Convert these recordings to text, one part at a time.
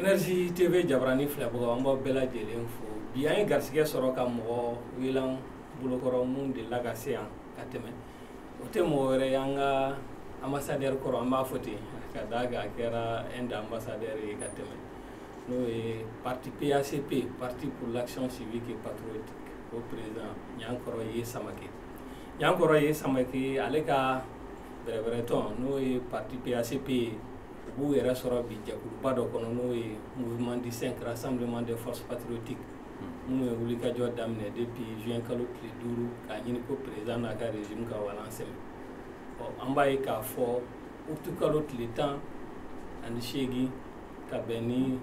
Energy TV Jabarani filɛbagaw an b'aw bɛɛ lajɛlen fo bi an ye garisɛgɛ sɔrɔ ka mɔgɔ wele an bolokɔrɔ mun delila ka se yan ka tɛmɛ o tɛ mɔgɔ wɛrɛ ye an ka ambassadeur kɔrɔ an b'a fɔ ten ka d'a kan a kɛra Inde ambassadeur ye ka tɛmɛ n'o ye parti PACP parti pour l'action civique et patriotique o président Ɲankɔrɔ Yeah Samake Ɲankɔrɔ Yeah Samake ale ka bɛrɛbɛrɛtɔn n'o ye parti PACP ye u b'u yɛrɛ sɔrɔ bi jɛkuluba dɔ kɔnɔ n'o ye mouvement du cinq juin rassemblement des forces patriotiques minnu ye wulikajɔ daminɛ depuis juin kalo tile duuru k'a ɲini ko président n'a ka régime ka walan sɛmɛ ɔ an b'a ye k'a fɔ utu kalo tile tan ani seegin ka bɛn ni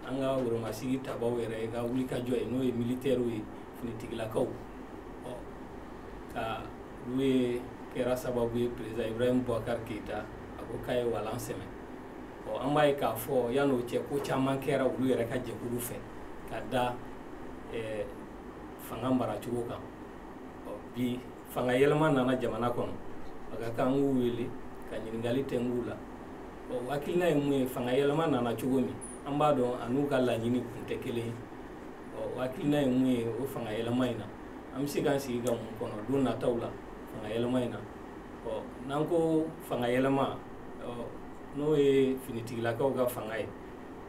an ka woromasigi tabaw yɛrɛ ka wulikajɔ ye n'o ye militɛriw ye finitigilakaw ɔ ka olu ye kɛra sababu ye président ibrahim bubakar keyita a ko k'a ye walan sɛmɛ ɔ an b'a ye k'a fɔ yan'o cɛ ko caman kɛra olu yɛrɛ ka jɛkulu fɛ ka da eh, fanga maracogo kan ɔ bi fanga yɛlɛma nana jamana kɔnɔ a ka kan k'u wele ka ɲininkali tɛm'u la u hakilina ye mun ye fanga yɛlɛma nana cogo min an b'a dɔn a n'u ka laɲini kun tɛ kelen ye ɔ hakilina ye mun ye o fanga yɛlɛma in na an bɛ se k'an sigi ka mun kɔnɔ don nataw la fanga yɛlɛma in na ɔ n'an ko fanga yɛlɛma ɔ n'o ye finitigilakaw ka fanga ye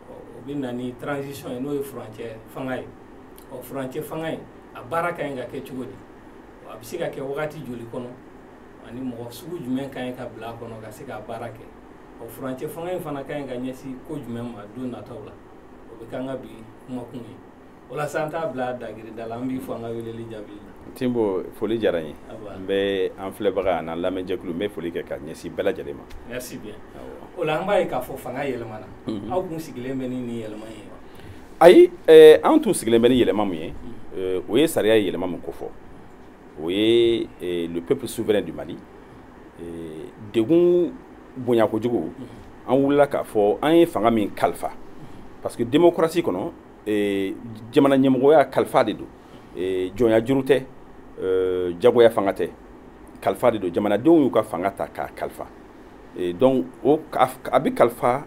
ɔ o bɛ na ni transition ye n'o ye furancɛ fanga ye ɔ furancɛ fanga in a baara ka ɲi ka kɛ cogo di a bɛ se ka kɛ wagati joli kɔnɔ ani mɔgɔ sugu jumɛn ka ɲi ka bila a kɔnɔ ka se k'a baara kɛ ɔ furancɛ fanga in fana ka ɲi ka ɲɛsin ko jumɛn ma don nataw la o bɛ k'an ka bi kumakun ye walasa an k'a bila dagiri da la an b'i fo an ka weleli jaabi tinbo foli diyara n ye n bɛ an filɛbaga an'an lamɛnjɛkulu n bɛ foli kɛ ka ɲɛsin bɛɛ lajɛlen ma merci bien o la an b'a ye k'a fɔ fanga yɛlɛmana mhm. aw kun sigilen bɛ ni nin yɛlɛma ye ayi eh, an tun sigilen bɛ ni yɛlɛma min ye mhm. eh, o ye sariya ye yɛlɛma min ko fɔ o ye eh, le peuple souverain du mali degun bonya kojugu mhm. an wulila k'a fɔ an ye fanga min kalifa parce que démocratie kɔnɔ ee, jamana ɲɛmɔgɔya kalifa de don ee, jɔnya juru tɛ ee, jagoya fanga tɛ kalifa de don jamanadenw y'u ka fanga ta k'a kalifa ee, donc a bɛ kalifa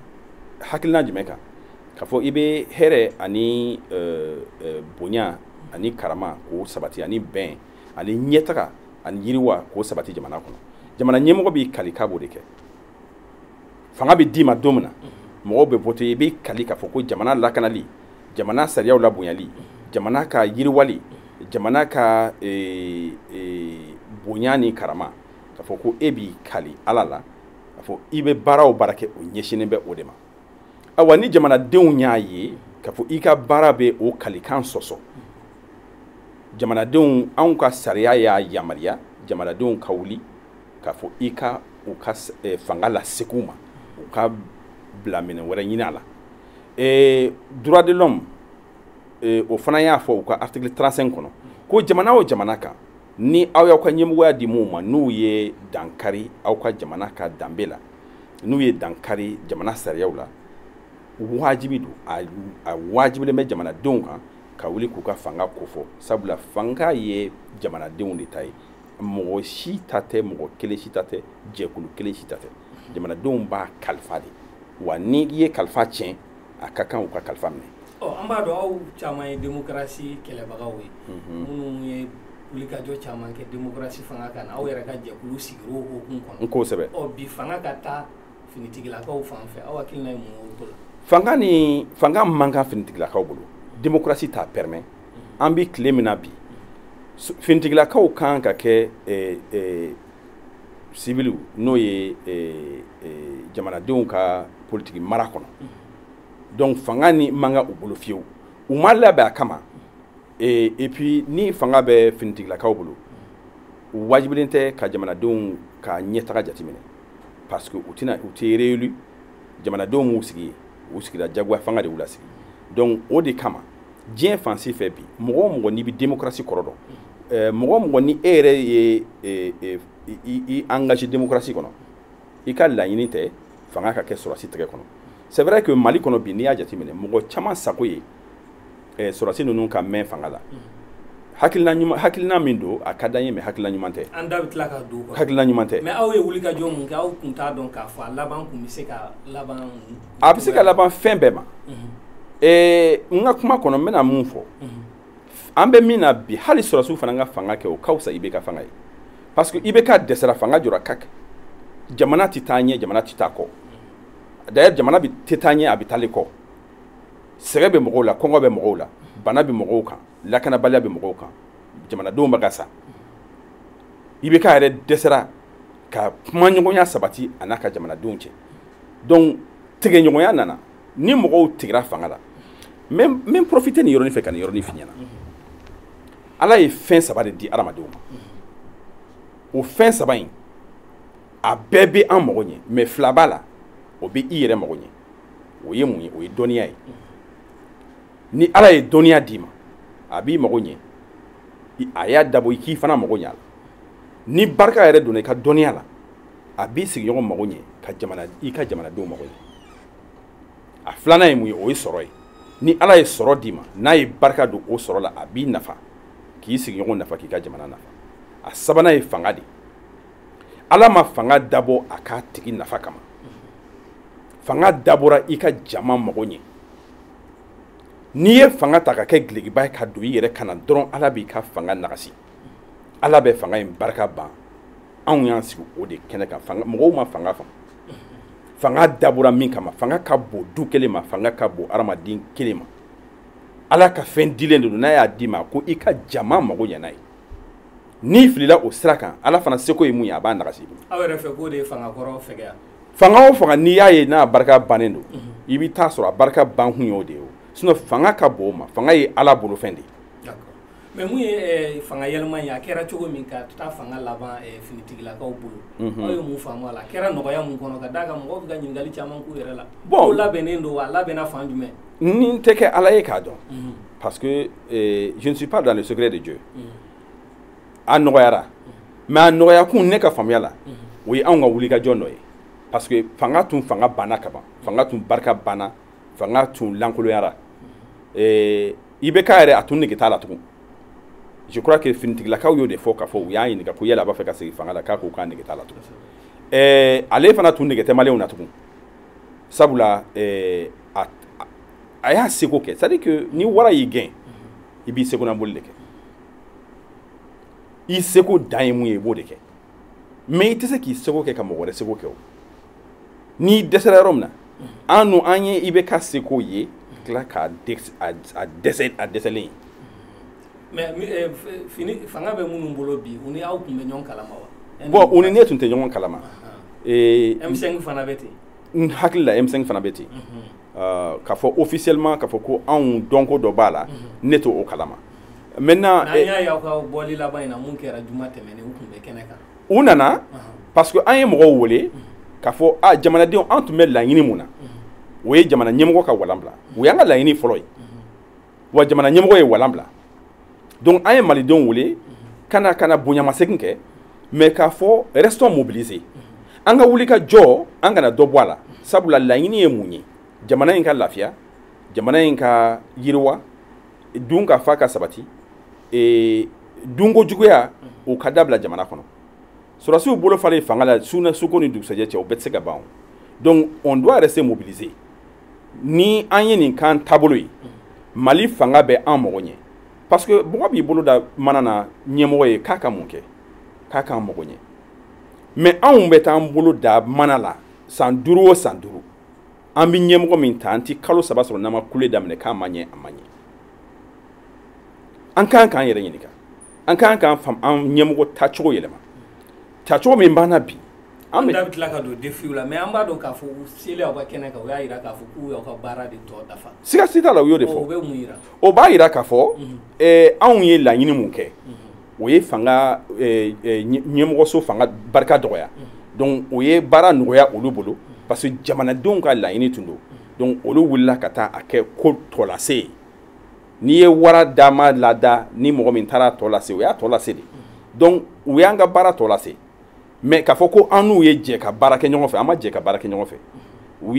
hakilina jumɛn kan k'a fɔ i bɛ hɛrɛ ani ee, ee, bonya ani karama k'o sabati ani bɛn ani ɲɛtaga ani yiriwa k'o sabati jamana kɔnɔ jamana ɲɛmɔgɔ b'i kali k'a b'o de kɛ fanga bɛ d'i ma don min na mɔgɔw bɛ vote i bɛ kali k'a fɔ ko jamana lakanali jamana sariyaw labonyali jamana ka yiriwali jamana ka eh, eh, bonya ni karama k'a fɔ ko e b'i kali ala la k'a fɔ i bɛ baara o baara kɛ o ɲɛsinnen bɛ o de ma awa ni jamanadenw y'a ye k'a fɔ i ka baara bɛ o kalikan sɔsɔ jamanadenw anw ka sariya y'a yamaruya jamanadenw ka wuli k'a fɔ i ka u ka eh, fanga lasegin u ma u ka bila minɛ wɛrɛ ɲini a la eh, droit de l'homme eh, o fana y'a fɔ u ka article 35 kɔnɔ ko jamana o jamana kan ni aw y'aw ka ɲɛmɔgɔya di minnu ma n'u ye dankari aw ka jamana ka danbe la n'u ye dankari jamana sariyaw la wajibi don a, a wajibilen bɛ jamanadenw kan ka wuli k'u ka fanga kofɔ sabula fanga ye jamanadenw de ta ye mɔgɔ si ta tɛ mɔgɔ kelen si ta tɛ jɛkulu kelen si ta tɛ jamanadenw b'a kalifa de wa ni i ye kalifa tiɲɛ a ka kan u ka kalifa minɛ ɔ an b'a dɔn aw caman ye demokarasi kɛlɛbagaw ye mhm. minnu ye wulikajɔ caman kɛ demokarasi fanga kan aw yɛrɛ ka jɛkulu sigira o hukumu kɔnɔ kosɛbɛ ɔ bi fanga ka taa finitigilakaw fan fɛ aw hakilina ye mun ye o ko la fanga ni fanga man kan finitigilakaw bolo demokarasi t'a permet an bɛ tile min na bi finitigilakaw kan ka kɛ eh, eh, siviliw n'o ye eh, jamanadenw ka politiki mara kɔnɔ donc fanga nin man kan u bolo fiyewu u ma labɛn a kama et puis ni fanga bɛ finitigilakaw bolo u wajibilen tɛ ka jamanadenw ka ɲɛtaga jateminɛ parce que u tɛna u tɛ réélu jamanadenw m'u sigi yen u sigira jagoya fanga de y'u lasigi donc o de kama diɲɛ fan si fɛ bi mɔgɔ o mɔgɔ n'i bɛ démocratie kɔrɔ dɔn eh, mɔgɔ o mɔgɔ ni e yɛrɛ ye eh, eh, i engagé démocratie kɔnɔ i ka laɲini tɛ fanga ka kɛ sɔrɔdasi tɛgɛ kɔnɔ c'est vrai que mali kɔnɔ bi n'i y'a jateminɛ mɔgɔ caman sago ye sɔrɔdasi ninnu ka mɛn fanga la hakilina ɲuman hakilina min don a ka d'an ye mais hakilina ɲuman tɛ an da bɛ tila ka don hakilina ɲuman tɛ mais aw ye wulikajɔ mun kɛ aw tun t'a dɔn k'a fɔ a laban tun bɛ se ka laban a bɛ se ka laban fɛn bɛɛ ma n ka kuma kɔnɔ n bɛna mun fɔ an bɛ min na bi hali sɔrɔdasiw fana ka fanga kɛ o ka fisa IBK fanga ye parce que IBK dɛsɛra fanga jɔra ka kɛ jamana tɛ taa ɲɛ jamana tɛ taa kɔ d'ailleurs jamana bɛ tɛ taa ɲɛ a bɛ taa le kɔ sɛgɛn bɛ mɔgɔw la kɔngɔ bɛ mɔgɔw la bana bɛ mɔgɔw kan lakanabaliya bɛ mɔgɔw kan jamanadenw bɛ ka sa IBK yɛrɛ dɛsɛra ka kumaɲɔgɔnya sabati a n'a ka jamanadenw cɛ donc tigɛɲɔgɔnya nana ni mɔgɔw tigɛra fanga la n bɛ profite nin yɔrɔnin fɛ ka nin yɔrɔnin f'i ɲɛna ala ye fɛn saba de di adamadenw ma o fɛn saba in a bɛɛ bɛ an mago ɲɛ mais fila b'a la o bɛ i yɛrɛ mago ɲɛ o ye mun ye o ye dɔnniya ye ni ala ye dɔnniya d'i ma a b'i mago ɲɛ a y'a dabɔ i k'i fana mago ɲɛ a la ni barika yɛrɛ donna i ka dɔnniya la a b'i sigiɲɔgɔn mago ɲɛ ka i ka jamanadenw mago ɲɛ a filanan ye mun ye o ye sɔrɔ ye ni ala ye sɔrɔ d'i ma n'a ye barika don o sɔrɔ la a b'i nafa k'i sigiɲɔgɔn nafa k'i ka jamana nafa a sabanan ye fanga de ala ma fanga dabɔ a k'a tigi nafa kama fanga dabɔra i ka jama mago ɲɛ n'i ye fanga ta ka kɛ dulokiba ye ka don i yɛrɛ kan na dɔrɔn ala b'i ka fanga nagasi ala bɛ fanga in barika ban anw y'an sigi o de kɛnɛ kan mɔgɔw ma fanga faamu fanga dabɔra min kama fanga ka bon du kelen ma fanga ka bon adamaden kelen ma ala ka fɛn dilen de don n'a y'a d'i ma ko i ka jama mago ɲɛ n'a ye n'i filila o sira kan ala fana seko ye mun ye a b'a nagasi i bolo aw yɛrɛ fɛ k'o de ye fanga kɔrɔ fɛgɛya fanga o fanga n'i y'a ye n'a barika bannen don mhm. i bɛ t'a sɔrɔ a barika ban kun y'o de ye o sinon fanga ka bon o ma fanga ye ala bolofɛn de ye mais mun ye fanga yɛlɛma ye a kɛra cogo min ka taa fanga laban finitigilakaw bolo aw ye mun faamu a la a kɛra nɔgɔya min kɔnɔ ka d'a kan mɔgɔw bɛ ka ɲininkali caman k'u yɛrɛ la bon labɛnnen don wa a labɛnna fan jumɛn ne tɛ kɛ ala ye k'a dɔn parce que je ne suis pas dans le secret de Dieu a nɔgɔyara mais a nɔgɔyakun ne ka faamuya la o ye anw ka wulikajɔ nɔ ye parce que fanga tun fanga banna ka ban fanga tun barika banna fanga tun lankoloyara eh, IBK yɛrɛ a tun nege t'a la tugun je crois que finitigilakaw y'o de fɔ k'a fɔ u y'a ɲininka ko yala a b'a fɛ ka segin fanga la k'a ko k'a nege t'a la tugun eh, ale fana tun nege tɛ maliyɛnw na tugun sabula eh, a, a y'a seko kɛ c'est à dire que ni wara y'i gɛn i b'i seko na boli de kɛ i seko dan ye mun ye i b'o de kɛ mais i tɛ se k'i seko kɛ ka mɔgɔ wɛrɛ seko kɛ o n'i dɛsɛra yɔrɔ min na an n'o an ye IBK seko ye ka tila k'a a dɛsɛ a dɛsɛlen ye mais eh, fini fanga bɛ minnu bolo bi u ni aw tun bɛ ɲɔgɔn kalama wa bon u ni ne tun tɛ ɲɔgɔn kalama eh, M5 fana bɛ ten n hakili la M5 fana bɛ ten mhm. ah, k'a fɔ officiellement k'a fɔ ko anw dɔnko dɔ b'a la mhm. ne t'o o kalama maintenant n'an eh, y'a ye aw ka bɔli laban in na min kɛra juma tɛmɛnen u tun bɛ kɛnɛ kan u nana parce que an ye mɔgɔw wele k'a fɔ a jamanadenw an tun bɛ laɲini mun na o ye jamana ɲɛmɔgɔ ka walan bila o y'an ka laɲini fɔlɔ ye wa jamana ɲɛmɔgɔ ye walan bila donc an ye malidenw wele ka na ka na bonyamasegin kɛ mais k'a fɔ restons mobilisés an ka wuli ka jɔ an kana dɔ bɔ a la sabula laɲini ye mun ye jamana in ka lafiya jamana in ka yiriwa dunkafa ka sabati e, dunko juguya o ka dabila jamana kɔnɔ sɔrɔsiw bolo falen fanga la suko ni dugusɛjɛ cɛ o bɛɛ tɛ se ka ban donc on doit rester mobilisé ni an ye nin k'an taabolo ye mali fanga bɛ an mago ɲɛ parce que mɔgɔ b'i bolo da mana na ɲɛmɔgɔ ye k'a ka mun kɛ k'a k'an mago ɲɛ mais anw bɛ t'an bolo da mana la san duuru o san duuru an bɛ ɲɛmɔgɔ min ta an ti kalo saba sɔrɔ n'an ma kule daminɛ k'a ma ɲɛ a ma ɲɛ an kan k'an yɛrɛ ɲininka an kan k'an fam an ɲɛmɔgɔ tacogo yɛlɛma tacogo min b'an na bi an da bɛ tila ka don défiw la mais an b'a dɔn k'a fɔ u selen aw ka kɛnɛ kan u y'a jira k'a fɔ k'u y'aw ka baara de tɔ dafa siga si t'a la u y'o de fɔ o b'a jira k'a fɔ anw ye laɲini mun kɛ o ye fanga eh, eh, ɲɛmɔgɔso fanga barika dɔgɔya donc o ye baara nɔgɔya olu bolo parce que jamanadenw ka laɲini tun don donc olu wulila ka taa a kɛ ko tɔlase ye n'i ye wara dama lada ni mɔgɔ min taara tɔ lase o y'a tɔ lase de donc u y'an ka baara tɔ lase mais k'a fɔ ko an n'u ye jɛ ka baara kɛ ɲɔgɔn fɛ an ma jɛ ka baara kɛ ɲɔgɔn fɛ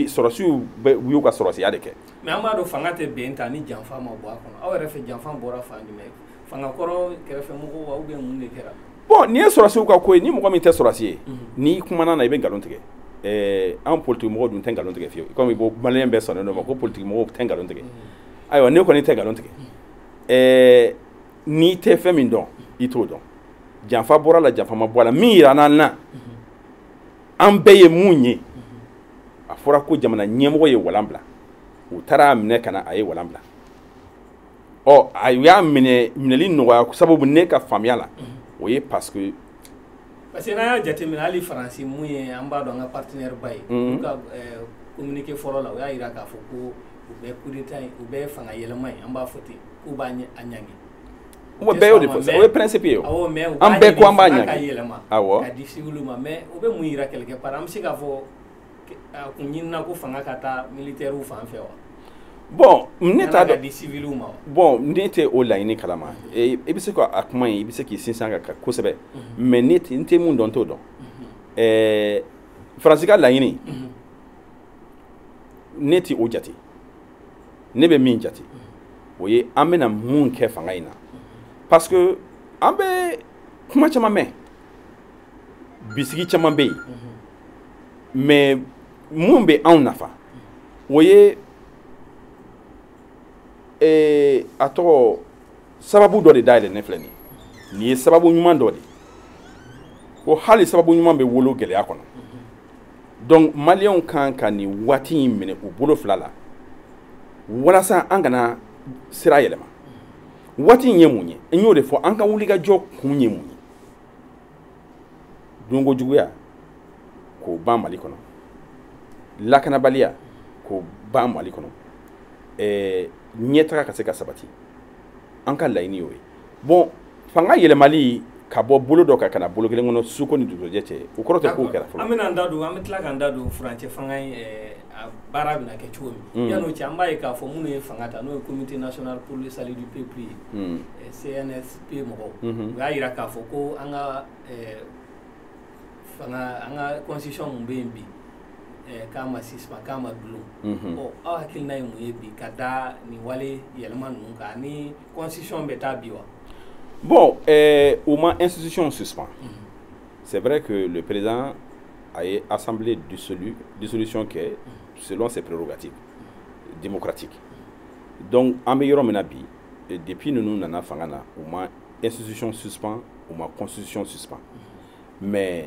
sɔrɔsiw u y'u ka sɔrɔsiya de kɛ mais an b'a dɔn fanga tɛ bin tan ni janfa ma bɔ a kɔnɔ aw yɛrɛ fɛ janfa bɔra fan jumɛn fanga kɔrɔ kɛrɛfɛ mɔgɔw ou bien mun de kɛra bon nin ye sɔrɔsiw ka ko ye ni mɔgɔ min tɛ sɔrɔsi ye mhm. n'i kumana na i bɛ nkalon tigɛ eh, an politikimɔgɔ dun tɛ nkalon tigɛ fiyewu komi bon maliyɛn bɛɛ sɔnnen d'o ma ko politikimɔgɔw tɛ nkalon tigɛ mhm. ayiwa ne kɔni tɛ nkalon tigɛ mhm. eh, n'i tɛ fɛn min dɔn i t'o dɔn janfa bɔra a la janfa ma bɔ a la min yiran'an na an bɛɛ ye mun ye a fɔra ko jamana ɲɛmɔgɔ ye walan bila u taara a minɛ ka na a ye walan bila ɔ a y'a minɛ minɛli nɔgɔya sababu ne ka faamuya la o ye parce que parce que n'an y'a jateminɛ hali faransi mun ye an b'a dɔn an ka partenaire ba ye olu ka communiqué fɔlɔ la u y'a jira k'a fɔ ko u bɛ kudeta ye u bɛ fanga yɛlɛma ye an b'a fɔ ten k'u b'a ɲɛ a ɲangi o bɛɛ y'o de fɔ o ye principe ye awɔ mais an bɛɛ ko an b'a ɲangi ka yɛlɛma awɔ ka di civil ma mais o bɛ mun yira quelque part an bɛ se k'a fɔ a kun ɲinina ko fanga ka taa militaire fan fɛ wa bon ne t'a dɔn di civil ma bon ne tɛ o laɲini kalama i bɛ se ka a kuma in i bɛ se k'i sinsin a kan kosɛbɛ mais ne n tɛ mun dɔn n t'o dɔn ɛɛ faransi ka laɲini ne tɛ o jate ne bɛ min jate o ye an bɛna mun kɛ fanga in na parce que an bɛ kuma caman mɛn bisigi caman bɛ yen mais min bɛ anw nafa o ye eh, a tɔgɔ sababu dɔ de dayɛlɛnen filɛ nin ye nin ye sababu ɲuman dɔ de ko hali sababu ɲuman bɛ wolo gɛlɛya kɔnɔ donc maliyɛnw kan ka nin waati in minɛ u bolo fila la walasa an kana sira yɛlɛma waati in ye mun ye n y'o de fɔ an ka wulikajɔ kun ye mun ye donko juguya k'o ban mali kɔnɔ lakanabaliya k'o ban mali kɔnɔ ɛɛ ɲɛtaga ka se ka sabati an ka laɲini y'o ye bon fanga yɛlɛmali ka bɔ bolo dɔ kan ka na bolo kelen kɔnɔ suko ni dugujɛ cɛ o kɔrɔ tɛ k'o kɛra fɔlɔ an bɛna an da don an bɛ tila k'an da don furancɛ fanga in a baara bɛna kɛ cogo min yan'o cɛ an b'a ye k'a fɔ minnu ye fanga ta n'o ye comité national pour le salut du peuple ye CNSP mɔgɔw u y'a jira k'a fɔ ko an ka fanga an ka constitution min bɛ yen bi k'a ma suspend k'a ma dulon aw hakilina ye mun ye bi ka da nin wale yɛlɛma ninnu kan ni constitution bɛ taa bi wa bon euh, u ma institution suspend mm -hmm. c'est vrai que le président a ye assemblée dissolu dissolution kɛ mm -hmm. selon ses prérogatives mm -hmm. démocratiques donc an bɛ yɔrɔ min na bi depuis ninnu nana fanga na u ma institution suspend u ma constitution suspend mais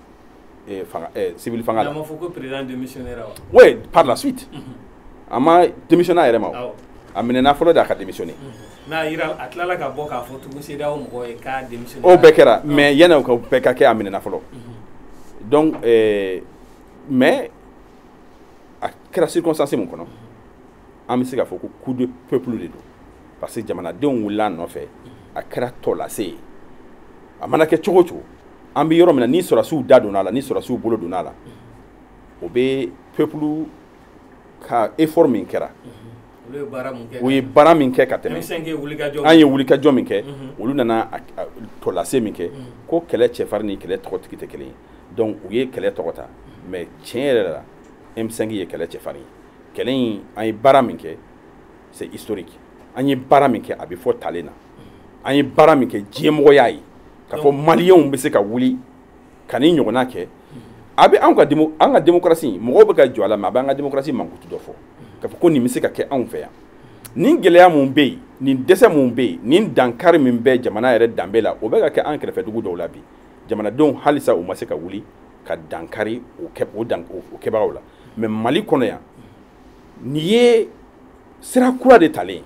eh, fanga, eh, civil fanga la. ko président démissionnaire wa? Oui, par la suite. Mm -hmm. A ma démissionner a yɛrɛ ma o. Awɔ. A minɛna fɔlɔ de a ka démissionner. Mm -hmm. N'a yira a tilala ka bɔ k'a fɔ tugun CEDEAO mɔgɔ ye k'a démissionner. O bɛɛ kɛra mais yanni o ka bɛɛ ka kɛ a minɛna fɔlɔ. Mm -hmm. Donc eh, mais a kɛra circonstance min kɔnɔ an bɛ se k'a fɔ ko coup de peuple de don parce que jamanadenw wulila a nɔfɛ a kɛra tɔlase ye a mana kɛ cogo o cogo an bɛ yɔrɔ min na ni sɔrɔsiw da donna a la ni sɔrɔsiw bolo donna a la o bɛ peuple ka effort min kɛra u ye baara min kɛ ka tɛmɛ an ye wulikajɔ min kɛ mhm. olu nana tɔlase min kɛ mhm. ko kɛlɛ cɛfarin ni kɛlɛ tɔgɔtigi tɛ kelen ye donc u ye kɛlɛ tɔgɔ ta mais tiɲɛ yɛrɛ la M5 ye kɛlɛ cɛfarin ye kɛlɛ in an ye baara min kɛ c'est historique an ye baara min kɛ a bɛ fɔ talen na an ye baara min kɛ diɲɛ mɔgɔw y'a ye k'a fɔ maliyɛnw bɛ se ka wuli ka nin ɲɔgɔnna kɛ a bɛ anw ka an ka démocratie mɔgɔw bɛ ka jɔ a la mais a bɛ an ka démocratie mankutu dɔ fɔ k'a fɔ ko nin bɛ se ka kɛ anw fɛ yan nin gɛlɛya mun bɛ yen nin dɛsɛ mun bɛ yen nin dankari min bɛ jamana yɛrɛ danbe la o bɛ ka kɛ an kɛrɛfɛ dugu dɔw la bi jamanadenw halisa u ma se ka wuli ka dankari o kɛbagaw la mais mali kɔnɔ yan Nin ye sira kura de talen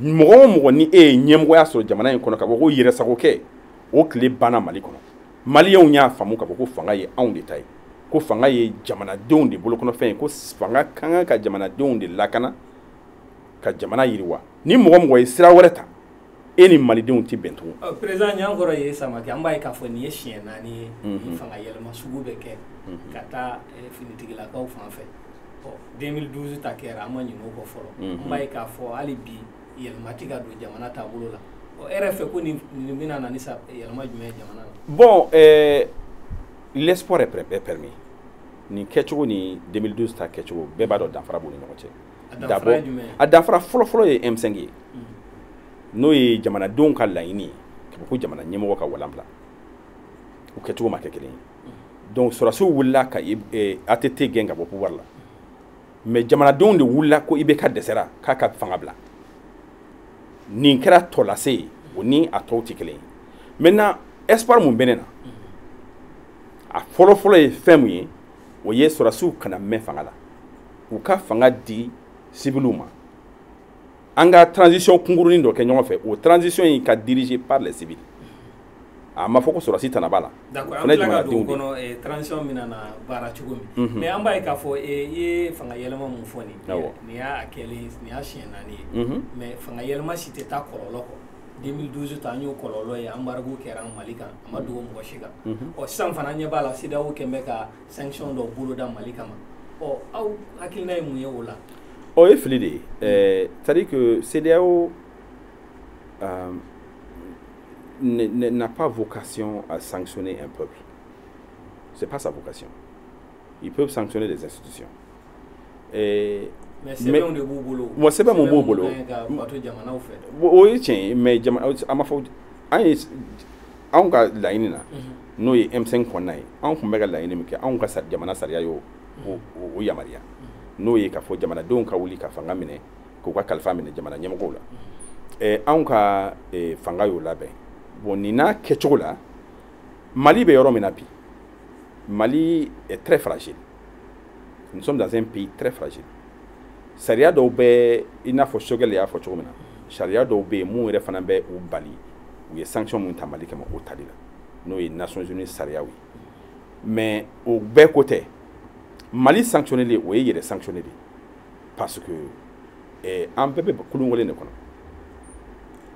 ye mɔgɔ o mɔgɔ ni e ye ɲɛmɔgɔya sɔrɔ jamana in kɔnɔ k'a fɔ ko yɛrɛsagokɛ o tile banna mali kɔnɔ maliyɛnw y'a faamu k'a fɔ ko fanga ye anw de ta ye ko fanga ye jamanadenw de bolokɔnɔfɛn ye ko fanga ka kan ka jamanadenw de lakana ka jamana yiriwa ni mɔgɔ o mɔgɔ ye sira wɛrɛ ta e ni malidenw tɛ bɛn tugun président ɲankɔrɔ ye samakɛ an b'a ye k'a fɔ nin ye siɲɛ naani ye nin fanga yɛlɛma sugu bɛ kɛ ka taa finitigilakaw fan fɛ 2012 ta kɛra an ma ɲinɛ o kɔ fɔlɔ an b'a ye k'a fɔ hali bi yɛlɛma tɛ ka don jamana taabolo la ɔ e yɛrɛ fɛ ko nin bɛna na ni yɛlɛma jumɛn ye jamana na bon l'espoir est permis nin kɛcogo ni 2012 ta kɛcogo bɛɛ b'a dɔn danfara b'u ni ɲɔgɔn cɛ d'abord a danfara fɔlɔfɔlɔ ye M5 ye n'o ye jamanadenw ka laɲini ye k'a fɔ ko jamana ɲɛmɔgɔ ka walan bila u kɛcogo ma kɛ kelen ye donc sɔrɔdasiw wulila ka eh, ATT gɛn ka bɔ pouvoir la mais jamanadenw de wulila ko IBK dɛsɛra k'a ka fanga bila nin kɛra tɔlase ye o ni a tɔw tɛ kelen ye maintenant espoir mun bɛ ne na a fɔlɔfɔlɔ ye fɛn mun ye o ye sɔrɔsiw kana mɛn fanga la u ka fanga di sibiliw ma an ka transition kunkurunin dɔ kɛ ɲɔgɔn fɛ o transition in ka dirigé par les civils a ma fɔ ko sɔrɔsi tɛna b'a la fana ye jamanadenw de kɔnɔ eh, transition bɛna baara cogo min mhm. mais an b'a ye k'a fɔ eh, i ye fanga yɛlɛma mun fɔ nin nin y'a kɛlen nin y'a siɲɛ naani ye mhm. mais fanga yɛlɛma si tɛ taa kɔlɔlɔ kɔ 2012 ta an y'o kɔlɔlɔ ye embargo kɛra an mali kan a ma dogo mɔgɔ si kan mhm. ɔ sisan fana an ɲɛ b'a la CEDEAO kɛlen bɛ ka sanction dɔ boloda mali kama ɔ aw hakilina ye mun ye o la o ye fili de ye eh, c'est à dire que CEDEAO euh, n'a pas vocation à sanctionner un peuple c'est pas sa vocation ils peuvent sanctionner des institutions eh, mais sɛbɛnw de b'u bolo wa sɛbɛn mun b'u bolo o ye tiɲɛ ye mais jamana an b'a fɔ an ye anw ka laɲini na mhm. n'o ye M5 kɔnɔna ye anw tun bɛ ka laɲini min kɛ anw ka jamana sariya y'o yamaruya mhm. n'o ye k'a fɔ jamanadenw ka wuli ka fanga minɛ k'u ka kalifa minɛ jamana ɲɛmɔgɔw la mhm. anw ka fanga y'o labɛn bon nin n'a kɛcogo la mali bɛ yɔrɔ min na bi mali est très fragile nous sommes dans un pays très fragile sariya dɔw bɛ i n'a fɔ choguel y'a fɔ cogo min na sariya dɔw bɛ yen mun yɛrɛ fana bɛ u bali u ye sanction mun ta mali kama o tali la n'o ye nations unies sariyaw ye mais o bɛɛ ko tɛ mali sanctionneli ye o ye yɛrɛ sanctionné de ye parce que eh, an bɛɛ bɛ kulun kelen de kɔnɔ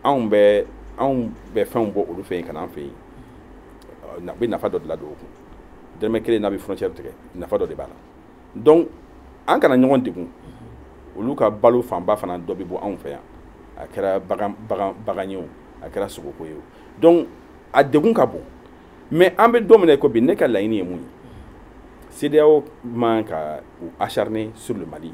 anw bɛ anw bɛ fɛnw bɔ olu fɛ yen ka na an fɛ yen a bɛ nafa dɔ de ladon o kun dɛrɛmɛ kelen n'a bɛ frontière tigɛ nafa dɔ de b'a la donc an kana ɲɔgɔn degun olu ka balo fanba fana dɔ bɛ bɔ anw fɛ yan a kɛra bagan ye o a kɛra sogoko ye o donc a degun ka bon mais an bɛ don min na i ko bi ne ka laɲini ye mun ye CEDEAO man ka u acharner sur le Mali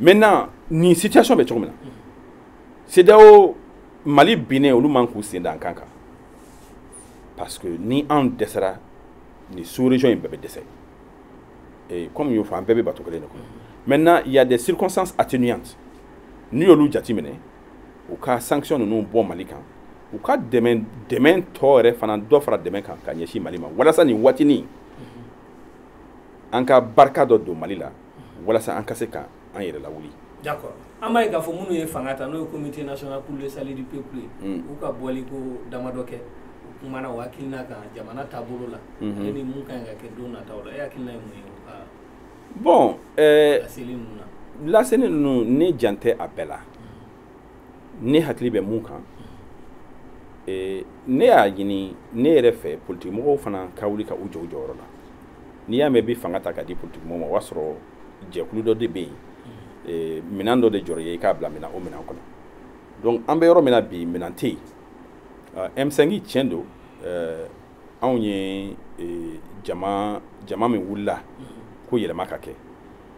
maintenant nin situation bɛ cogo min na CEDEAO Mali binnen olu man k'u sen da an kan kan parce que ni anw dɛsɛra nin sous région in bɛɛ bɛ dɛsɛ et comme y'o fɔ an bɛɛ bɛ bato kelen de kɔnɔ maintenant il y a des circonstances atténuantes n'u y'olu jateminɛ u ka sanction ninnu bɔ Mali kan u ka dɛmɛ dɛmɛ tɔ yɛrɛ fana dɔ fara dɛmɛ kan ka ɲɛsin Mali ma walasa nin waati nin an ka barika dɔ don Mali la walasa an ka se ka an yɛrɛ lawuli d'accord an b'a ye k'a fɔ minnu ye fanga ta n'o ye comité national pour le salut du peuple ye mm. u ka bɔli ko damadɔ kɛ u kumana u hakilina kan jamana taabolo la mm -hmm. ni mun ka ɲi ka kɛ don nataw la e hakilina ye mun ye u ka bon eh, laseli ninnu na laseli ninnu ne jan tɛ a bɛɛ la ne hakili bɛ mun kan eh, ne y'a ɲini ne yɛrɛ fɛ politikimɔgɔw fana ka wuli ka u jɔ u jɔyɔrɔ la n'i y'a mɛn bi fanga ta ka di politikimɔgɔw ma o b'a sɔrɔ jɛkulu dɔ de bɛ yen eh, minɛn dɔ de jɔra yen i k'a bila minɛn o minɛn kɔnɔ donc an bɛ yɔrɔ min na bi minɛn tɛ yen ah, M5 tiɲɛ don eh, anw ye jama jama min wulila ko yɛlɛma ka kɛ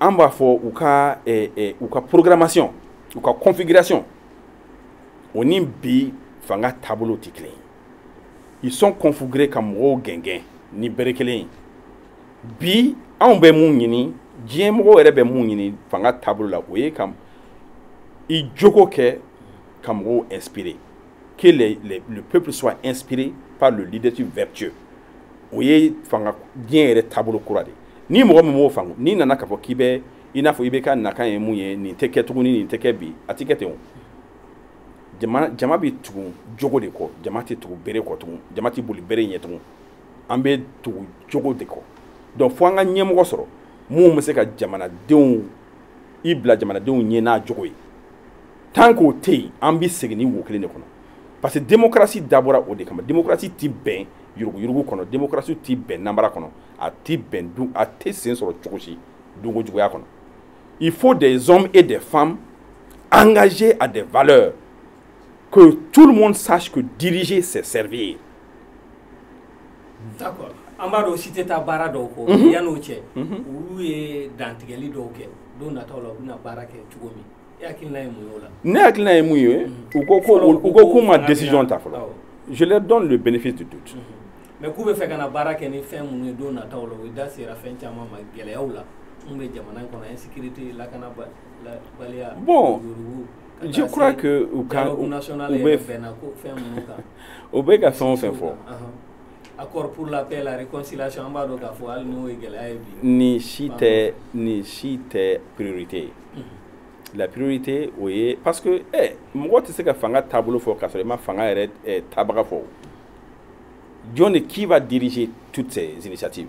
an b'a fɔ u ka eh, eh, u ka programmation u ka configuration o ni bi fanga taabolo tɛ kelen ye ils sont configurés ka mɔgɔw gɛngɛn ni bere kelen ye bi anw bɛ mun ɲini diɲɛ mɔgɔw yɛrɛ bɛ mun ɲini fanga taabolo la o ye ka i jogo kɛ ka mɔgɔw inspirer que le peuple soit inspiré par le leadership vertueux o ye fanga diɲɛ yɛrɛ taabolo kura de ni mɔgɔ min m'o faamu n'i nana k'a fɔ k'i bɛ i n'a fɔ i bɛ ka nakan ye mun ye nin tɛ kɛ tuguni nin tɛ kɛ bi a tɛ kɛ ten o jama bɛ tugu jogo de kɔ jama tɛ tugu bere kɔ tugun jama tɛ boli bere ɲɛ tugun an bɛ tugu jogo de kɔ donc fo an ka ɲɛmɔgɔ sɔrɔ mun bɛ se ka jamanadenw i bila jamanadenw ɲɛ n'a jogo ye tant qu'o tɛ yen an bɛ segin nin wo kelen de kɔnɔ parce que démocratie dabɔra o de kama démocratie ti bɛn yuruguyurugu kɔnɔ démocratie ti bɛn nanbara kɔnɔ a ti bɛn du a tɛ sen sɔrɔ cogo si dunkojuguya kɔnɔ il faut des hommes et des femmes engagés à des valeurs que tout le monde sache que diriger c'est servir d'accord an b'a dɔn si tɛ taa baara dɔw kɔ mhm. yann'o cɛ mhm. olu ye dantigɛli dɔw kɛ don nataw la u bɛna baara kɛ cogo min Ne hakilina ye mun ye u ko ko k'u ma décision ta fɔlɔ je leur donne le bénéfice du doute mais k'u bɛ fɛ ka na baara kɛ ni fɛn minnu ye don nataw la u da sera fɛn caman ma gɛlɛyaw la mun bɛ jamana in kɔnɔ insécurité lakanabaliya bon je crois que u ka u bɛ fɛn minnu kan u bɛ ka fɛn o fɛn fɔ accord pour la paix et la réconciliation an b'a dɔn k'a fɔ hali n'o ye gɛlɛya ye bi. nin si tɛ nin si tɛ priorité ye. Mhm. la priorité o ye parce que ɛ eh, mɔgɔ tɛ se ka fanga taabolo fɔ k'a sɔrɔ i ma fanga yɛrɛ eh, tabaga fɔ jɔn de qui va diriger toutes ces initiatives.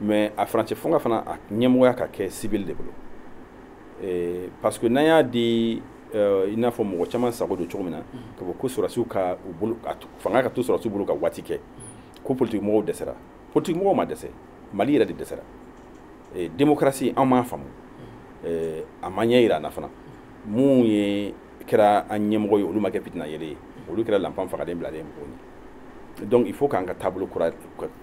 mais a furancɛ fanga fana a ɲɛmɔgɔya ka kɛ civil de bolo eh, parce que n'an y'a di euh, i n'a fɔ mɔgɔ caman sago don cogo min na mm-hmm. k'a fɔ ko sɔrɔsiw ka u bolo fanga ka to sɔrɔsiw bolo ka waati kɛ mm-hmm. ko politiki mɔgɔw dɛsɛra politiki mɔgɔw ma dɛsɛ mali yɛrɛ de dɛsɛra eh, démocratie an m'a faamu mm-hmm. eh, a ma ɲɛyira an na fana mun ye kɛra an ɲɛmɔgɔ ye olu ma kɛ fitina yeelen ye olu kɛra lanpan fagalen bilalen mɔgɔw ɲɛ donc il faut k'an ka taabolo kura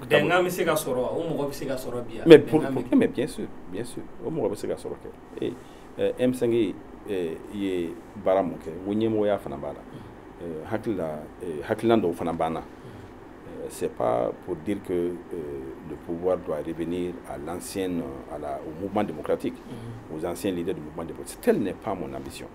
bɛnkan bɛ se ka sɔrɔ o mɔgɔ bɛ se ka sɔrɔ bi mais pour mais bien sûr bien sûr o mɔgɔ bɛ se ka sɔrɔ kɛ ee eh, eh, M5 ye eh, ye baara mun kɛ o ɲɛmɔgɔya fana b'a la mm-hmm. hakilila hakilina dɔw fana b'an na mm-hmm. c'est pas pour dire que euh, le pouvoir doit revenir à l'ancienne, à la, au mouvement démocratique, mm -hmm. aux anciens leaders du mouvement démocratique. Telle n'est pas mon ambition.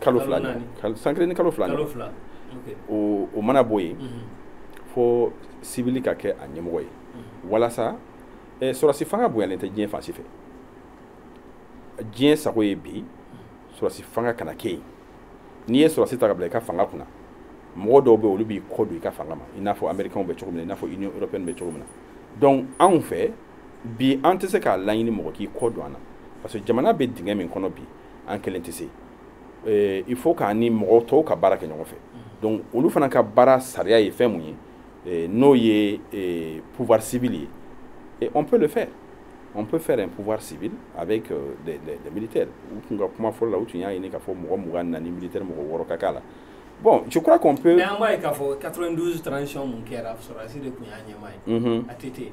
kalo fila san kelen ni kalo fila o mana bɔ yen mhm. fo civil ka kɛ a ɲɛmɔgɔ ye mhm. walasa eh, sɔrɔsi fanga bonyalen tɛ diɲɛ fan si fɛ diɲɛ sago ye bi mhm. sɔrɔsi fanga kana kɛ yen n'i ye sɔrɔsi ta k'a bila i ka fanga kunna mɔgɔ dɔw bɛ olu b'i kɔ don i ka fanga ma i n'a fɔ amerikɛnw bɛ cogo min na i n'a fɔ union européenne bɛ cogo min na donc anw fɛ bi an tɛ se k'a laɲini mɔgɔ k'i kɔ don an na parce que jamana bɛ dingɛ min kɔnɔ bi an kelen tɛ se eh, il faut k'an ni mɔgɔ tɔw ka baara kɛ ɲɔgɔn fɛ donc olu fana ka baara sariya ye fɛn mun ye eh, n'o ye eh, pouvoir civil ye et on peut le faire on peut faire un pouvoir civil avec euh, des, des, des militaires u tun ka kuma fɔlɔ la u tun y'a ɲini k'a fɔ mɔgɔ mugan ni naani militaire mɔgɔ wɔɔrɔ ka k'a la bon je crois qu'on peut mais an b'a ye k'a fɔ 92 transition mun kɛra sɔrɔdasi de tun y'a ɲɛmaa ye ATT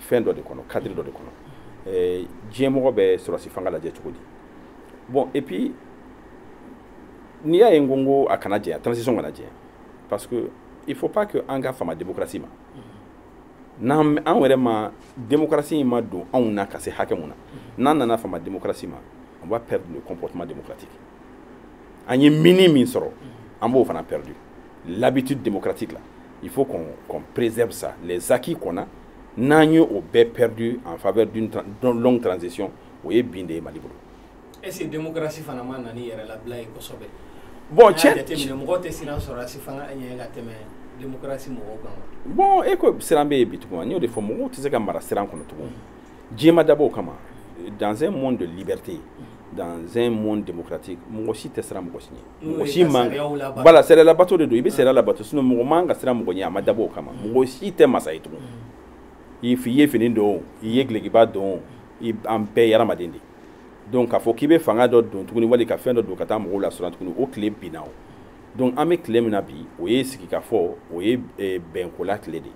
fɛn dɔ de kɔnɔ cadre dɔ de kɔnɔ eh, diɲɛmɔgɔ bɛ sɔrɔdasi fanga lajɛ cogo di bon et puis n'i y'a ye n ko n ko a kana janya transition kana janya parce que il faut pas que an ka fama démocratie ma n'an an yɛrɛ ma démocratie in ma don anw na ka se hakɛ mun na n'an nana fama démocratie ma on va perdre le comportement démocratique an ye mini min sɔrɔ an b'o fana perdu l'habitude démocratique la il faut qu'on préserve ça les acquis qu'on a n'an ye o bɛɛ perdu en faveur d'une longue transition o ye bin de ye mali bolo est ce que démocratie fana ma na ni yɛrɛlabila ye kosɛbɛ bon tiɲɛ jateminɛ mɔgɔw tɛ siran sɔrɔdasi fanga ɲɛ ka tɛmɛ démocratie mɔgɔw kan bon e ko siran bɛ yen bi tugun n y'o de fɔ mɔgɔw tɛ se ka mara siran kɔnɔ tugun diɲɛ ma dabɔ o kama dans un monde de liberté dans un monde démocratique mɔgɔ si tɛ siran mɔgɔ si ɲɛ mɔgɔ si man voilà sariya labato de don i bɛ sariya labato sinon mɔgɔ man ka siran mɔgɔ ɲɛ a ma dabɔ o kama mɔgɔ si tɛ masa ye tugun i ye fini don i ye dulɔkiba don an bɛɛ ye adamaden de donc k'a fɔ k'i bɛ fanga dɔ don tuguni wali ka fɛn dɔ don ka taa mɔgɔw lasiran tuguni o tile binna o donc an bɛ tile min na bi o ye sigikafɔ o ye bɛnkola tile de ye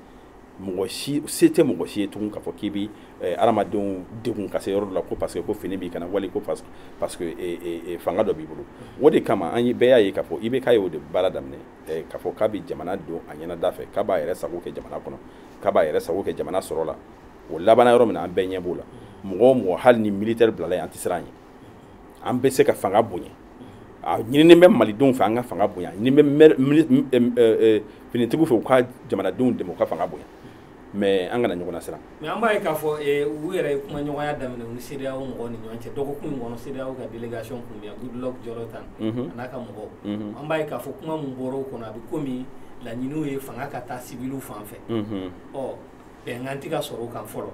mɔgɔ si se tɛ mɔgɔ si ye tugun k'a fɔ k'i bɛ eh, adamadenw degun ka se yɔrɔ dɔ la ko parce que ko fini b'i kan na wali ko parce parce que eh, eh, eh, fanga dɔ b'i bolo o de kama an ye bɛɛ y'a ye k'a fɔ IBK ye o de baara daminɛ eh, k'a fɔ k'a bɛ jamana don a ɲɛnada fɛ k'a b'a yɛrɛ sago kɛ jamana kɔnɔ k'a b'a yɛrɛ sago kɛ jamana sɔrɔ la o labanna yɔrɔ min na an bɛɛ ɲɛ b'o la mɔgɔ o mɔgɔ hali ni militaire bilala yen an tɛ siran a ɲɛ an bɛ se ka fanga bonya a ɲininen bɛ malidenw fɛ an ka fanga bonya ɲininen bɛ finitigiw fɛ u ka jamanadenw dɛmɛ u ka fanga bonya mais an kana ɲɔgɔn nasiran mais an b'a ye k'a fɔ u yɛrɛ ye kumaɲɔgɔnya daminɛ u ni CEDEAO mɔgɔw ni ɲɔgɔn cɛ dɔgɔkun in kɔnɔ CEDEAO ka délégation kun bɛ yan Goodluck Jonathan a n'a ka mɔgɔw an b'a ye k'a fɔ kuma min bɔra o kɔnɔ a bɛ komi laɲiniw ye fanga ka taa civil fan fɛ ɔ bɛnkan tɛ ka sɔrɔ o kan fɔlɔ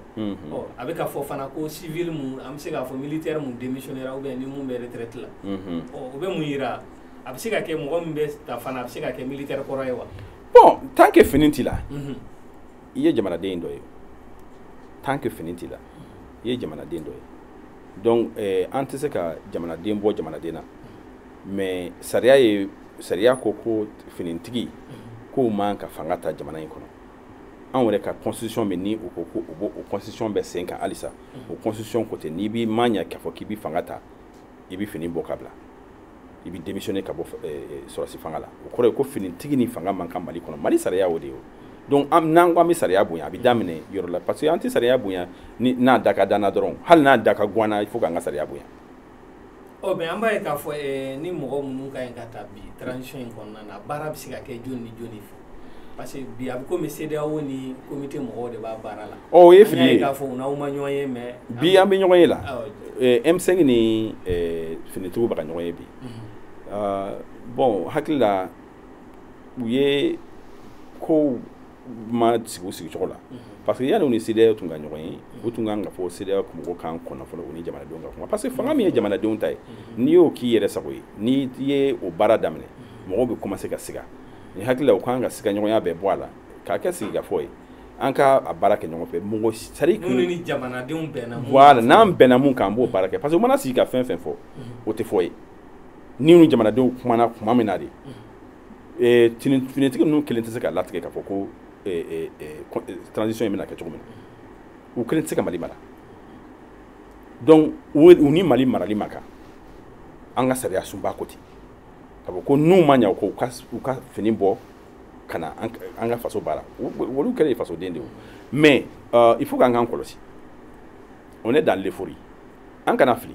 ɔ a bɛ ka fɔ fana ko civil mun an bɛ se k'a fɔ militaire mun démissionnera ou bien ni mun bɛ retraite la ɔ o bɛ mun yira a bɛ se ka kɛ mɔgɔ min bɛ ta fana a bɛ se ka kɛ militaire kɔrɔ ye wa bon tant que fini t'i la i ye jamanaden dɔ ye tant que fini t'i la i ye jamanaden dɔ ye donc eh, an tɛ se ka jamanaden bɔ jamanaden na mais sariya ye sariya ko ko finintigi k'o man ka fanga ta jamana in kɔnɔ anw yɛrɛ ka constitution bɛ ni u ko ko u b'o o constitution bɛ sen kan halisa o constitution ko ten n'i b'i ma ɲɛ k'a fɔ k'i bɛ fanga ta i bɛ fini bɔ ka bila i bɛ démissionner ka bɔ eh, eh, sɔrɔdasi fanga la o kɔrɔ ye ko finitigi ni fanga man kan mali kɔnɔ mali sariya o de ye o donc an n'an ko an bɛ sariya bonya a bɛ daminɛ yɔrɔ la parce que an tɛ sariya bonya ni n'a da ka d'an na dɔrɔn hali n'a da ka go an na il faut k'an ka sariya bonya ɔ mais an b'a ye k'a fɔ eh, ni mɔgɔ minnu ka ɲi ka taa bi transition in kɔnɔna na baara bɛ se ka kɛ jɔni ni jɔni fɛ parce que bi a bɛ komi CEDEAO ni comité mɔgɔw de b'a baara la. ɔ o ye fili ye k'a fɔ u n'aw ma ɲɔgɔn ye mais. bi an bɛ ɲɔgɔn ye la. Eh, M5 ni eh, finitigiw bɛ ka ɲɔgɔn ye bi. Mhm. Ah, bon hakili la u ye kow ma sigi sigicogo la parce que yanni u ni CEDEAO tun ka ɲɔgɔn ye u tun kan ka fɔ CEDEAO mɔgɔw k'an kɔnɔ fɔlɔ u ni jamanadenw ka kuma parce que fanga min ye jamanadenw ta ye n'i y'o k'i yɛrɛ sago ye n'i ye o baara daminɛ mɔgɔw bɛ commencer ka siga ne hakili la u kan ka siga ɲɔgɔnya bɛɛ bɔ a la k'a kɛ sigikafɔ ye an ka a baara kɛ ɲɔgɔn fɛ mɔgɔ sari minnu ni jamanadenw bɛnna mun voilà n'an bɛnna mun kan an b'o baara kɛ parce que u mana sigi ka fɛn fɛn fɔ o tɛ foyi ye ni ni jamanadenw kumana kuma min na de eh, finitigi ninnu kelen tɛ se ka latigɛ k'a fɔ ko eh, eh, transition in bɛna kɛ cogo min na u kelen tɛ se ka mali mara donc u ni mali marali man kan an ka sariyasunba ko ten ka fɔ ko n'u ma ɲa ko u ka fini bɔ ka na an ka faso baara olu kɛlen ye fasoden de ye mais euh, il faut k'an k'an kɔlɔsi on est dans l'euphorie an kana fili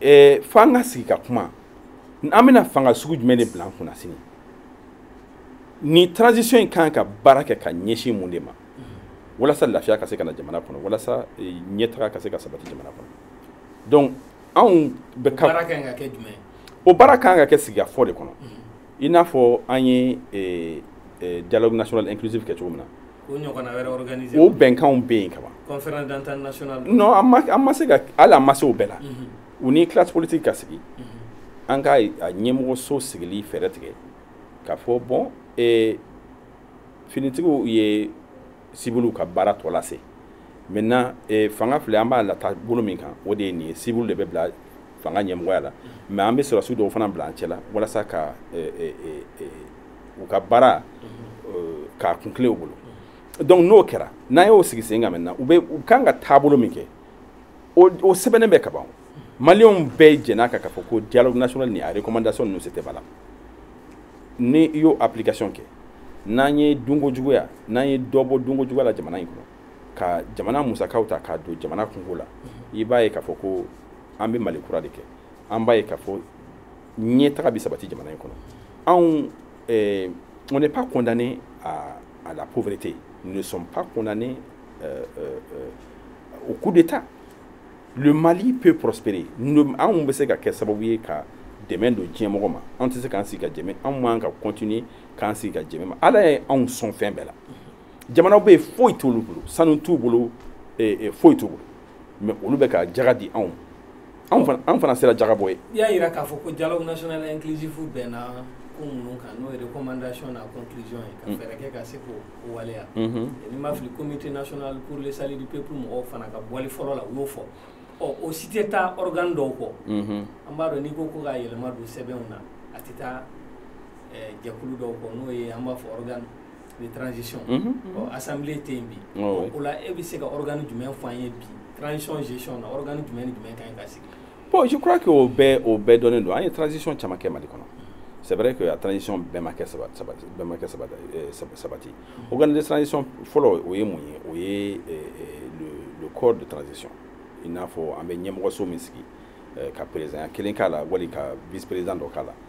ɛɛ fo an ka sigi ka kuma an bɛna fanga sugu jumɛn de bila an kunna sini ni transition in kan ka baara kɛ ka ɲɛsin mun de ma walasa lafiya ka se ka na jamana kɔnɔ walasa eh, ɲɛtaga ka se ka sabati jamana kɔnɔ donc anw bɛ ka baara kan ka kɛ jumɛn o baara kan ka kɛ sigikafɔ de kɔnɔ i n'a fɔ an ye eh, eh, dialogue national inclusive kɛ cogo min na o bɛnkanw bɛ yen kaban conférence d'entente nationale non an ma se ka hali an ma se o bɛɛ la u ni classe politique ka sigi an ka a ɲɛmɔgɔso sigili fɛɛrɛ tigɛ ka fɔ bon finitigiw ye sibiliw ka baara tɔ lase maintenant fanga filɛ an b'a lataa bolo min kan o de ye nin ye sibiliw de bɛ bila fanga ɲɛmɔgɔya la mais an bɛ sɔrɔdasiw dɔw fana bila an cɛla walasa ka u ka baara euh, k'a kuntilen u bolo donc n'o kɛra n'an y'o sigi sen kan maintenant u bɛ u kan ka taabolo min kɛ o o sɛbɛnnen bɛ ka ban maliyɛnw bɛɛ jɛnn'a kan k'a fɔ ko dialogue national ni a recommandation ninnu c'était valable ni i y'o application kɛ n'an ye dunko juguya n'an ye dɔ bɔ dunko juguya la jamana in kɔnɔ ka jamana musakaw ta k'a don jamana kunko la i b'a ye k'a fɔ ko an bɛ mali kura de kɛ an b'a ye k'a fɔ ɲɛtaga bɛ sabati jamana in kɔnɔ anw eh, on n'est pas condamné à, à la pauvreté nous ne sommes pas condamnés euh, euh, euh, au coup d'état le Mali peut prospérer nous anw bɛ se ka kɛ sababu ye ka dɛmɛ don diɲɛ mɔgɔ ma an tɛ se k'an sigi ka dɛmɛ anw man ka continuer k'an sigi ka dɛmɛ ma ala ye anw sɔn fɛn bɛɛ la jamanaw bɛ yen foyi t'olu bolo sanu t'u bolo eh, eh, foyi t'u bolo mais olu bɛ ka jaga di anw an fana sera jaga bɔ ye i y'a yira k'a fɔ ko dialogue national inclusif bɛnna ko minnu kan n'o ye recommandation n'a conclusion ye ka mm. fɛɛrɛ kɛ ka se k'o waleya mm-hmm. ni ma fili comité national pour le salut du peuple mɔgɔw fana ka bɔli fɔlɔ la u y'o fɔ ɔ o si tɛ taa organe dɔw kɔ mm-hmm. an b'a dɔn n'i ko ko ka yɛlɛma don sɛbɛnw na a tɛ taa jɛkulu dɔw kɔ n'o ye an b'a fɔ organe de transition mhm. ɔ assemblée tɛ yen bi o la e bɛ se ka organe jumɛn fɔ an ye bi transition gestion na organe jumɛn ni jumɛn ka ɲi ka sigi bon je crois que o bɛɛ o bɛɛ dɔnnen don an ye transition caman kɛ mali kɔnɔ c'est vrai que a transition bɛɛ ma kɛ bɛɛ ma kɛ sabati mhm. organe de transition fɔlɔ o ye mun ye o ye eh, eh, le le corps de transition i n'a fɔ an bɛ ɲɛmɔgɔso min sigi ka président kelen k'a la wali ka vice président dɔ k'a la